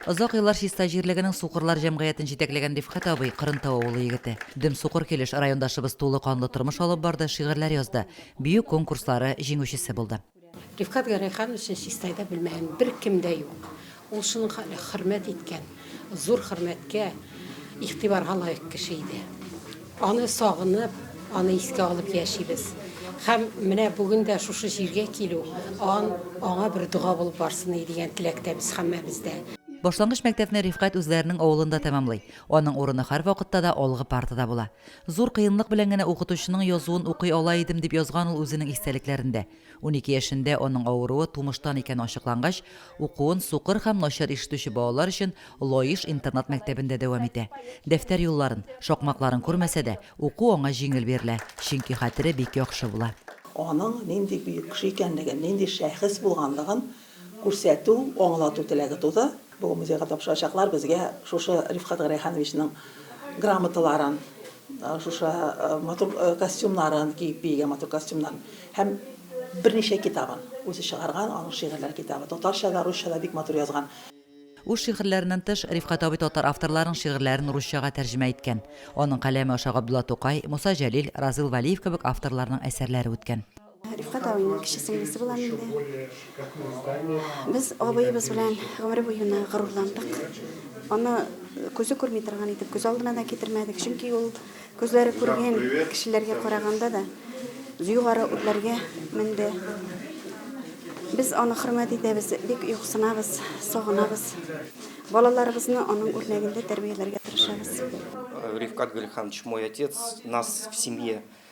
Озак еллар Чистай җирлегенең Сукырлар җәмгыятен җитәкләгән Рифкать абый, Кырынтау авылы егете. Дөм сукыр килеш райондашыбыз тулы канлы тормыш алып барды, шигырьләр язды, бию конкурслары җиңүчесе булды. Рифкать Гәрәйхановичны Чистайда белмәгән беркем дә юк. Ул шуның хәтле хөрмәт иткән, зур хөрмәткә, игътибарга лаек кеше иде. Аны сагынып, аны искә алып яшибез. Һәм менә бүген дә шушы җиргә килү, ан, аңа бер дога булып барсын иде дигән теләктә без һәммәбез дә. Башлангыч мәктәпне Рифкать үзләренең авылында тәмамлый. Аның урыны һәрвакытта да алгы партада була. Зур кыенлык белән генә укытучының язуын укый ала идем, дип язган ул үзенең истәлекләрендә. Унике яшендә аның авыруы тумыштан икәне ачыклангач, укуын сукыр һәм начар ишетүче балалар өчен Лаеш интернат-мәктәбендә дәвам итә. Дәфтәр юлларын, шакмакларын күрмәсә дә, уку аңа җиңел бирелә, чөнки хәтере бик яхшы була. Аның нинди бөек кеше икәнлеген, нинди шәхес булганлыгын күрсәтү, аңлату теләге туды. Бүген музейга тапшырачаклар безгә шушы Рифкать Гәрәйхановичның грамоталарын, шушы матур костюмнарын, киеп биегән матур костюмнарын һәм берничә китабын, үзе чыгарган аның шигырьләр китабы, татарча да, русча да бик матур язган. Үз шигырьләреннән тыш, Рифкать абый татар авторларының шигырьләрен русчага тәрҗемә иткән. Аның каләме аша Габдулла Тукай, Муса Җәлил, Разил Вәлиев кебек авторларның әсәрләре үткән. Рифкать абыйның кече сеңлесе булам инде. Без абыебыз белән гомере буена горурландык. Аны күзе күрми торган итеп күз алдына да китермәдек, чөнки ул күзләре күргән кешеләргә караганда да югары үрләргә менде. Без аны хөрмәт итәбез, бик юксынабыз, сагынабыз. Балаларыбызны аның үрнәгендә тәрбияләргә тырышабыз. Рифкать Гөлханович, мой отец, нас в семье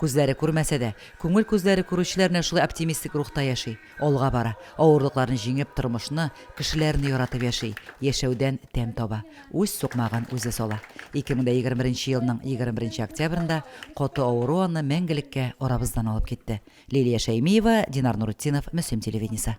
Күзләре күрмәсә дә, күңел күзләре күрүчеләр менә шулай оптимистик рухта яши, алга бара, авырлыкларны җиңеп, тормышны, кешеләрне яратып яши, яшәүдән тәм таба, үз сукмагын үзе сала. 2021 елның 21 октябрендә каты авыру аны мәңгелеккә арабыздан алып китте. Лилия Шәймиева, Динар Нуретдинов, Мөслим телевидениесе.